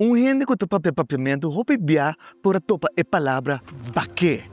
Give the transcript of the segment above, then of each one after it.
Un hende ku ta papia papiamentu hopi bia por a topa e palabra bak'é.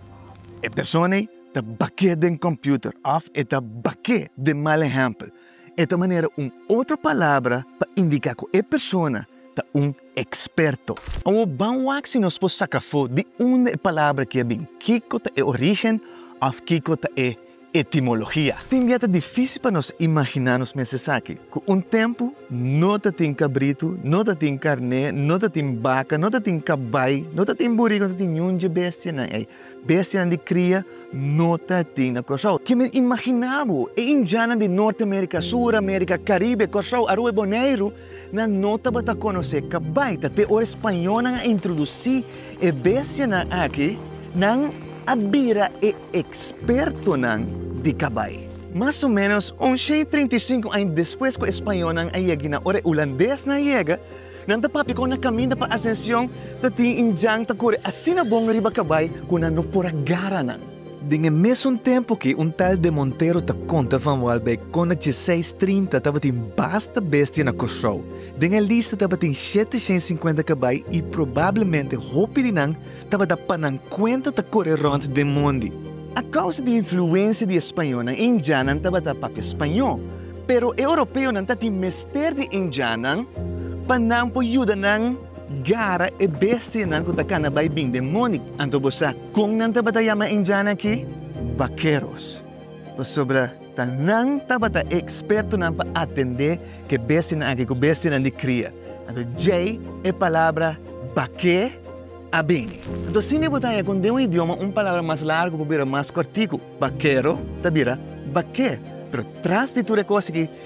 E persona ei ta bak'é den kòmpiuter òf e ta bak'é den mal ehèmpel. E ta manera un otro palabra pa indiká ku e persona ta un eksperto. Awor ban wak si nos por saka afó di unda e palabra aki a bin, kiko ta e orígen òf kiko ta e Etimologia. Tin bia ta difísil pa nos imaginá nos mes esaki, ku un tempu no ta tin kabritu, no ta tin karné, no ta tin baka, no ta tin kabai, no ta tin buriku, no ta tin niun dje bestianan ei. Bestianan di kria no ta tin na Kòrsou. Ke men imaginá bo? E indianan di Norte Amerika, Sur Amerika, Karibe, Kòrsou, Aruba i Boneiru nan no tabata konosé kabaita te ora e spañónan a introdusí e bestianan aki, nan a bira e ekspertonan di kabai. Mas o ménos un shen i treinta i sinku aña despues ku e spañónan a yegina, ora e ulandésnan a yega, nan ta papia kon na kaminda pa Asension ta tin indjan ta kore asina bon riba kabai ku nan no por a gara nan. Den e mesun tempu ke un tal de Montero ta konta van Waalbeck kon na djeseis trinta tabatin basta bestia na Kòrsou. Den e lista tabatin shete shen sinkuenta kabai i probablemente hopi di nan tabata pa nan kuenta ta kore rònt den mondi. A kousa di influensia di e spañonan, Indianan tabata papia spañó, pero e Oropeonan ta tin mester di Indianan pa nan por yuda nan. Gara e bestianan ku ta kana bai bin den moni. Anto bo sa kon nan tabata yama e indianan aki? Bakeros. Pasobra ta nan tabata e ekspertonan pa atendé ku e bestianan aki ku bestianan di kria. Anto djei e palabra bak'é a bini. Anto si mi bo ta haña kon den un idioma un palabra mas largu por bira mas kòrtiku, bakero ta bira bak'é. Pero tras di tur e kos aki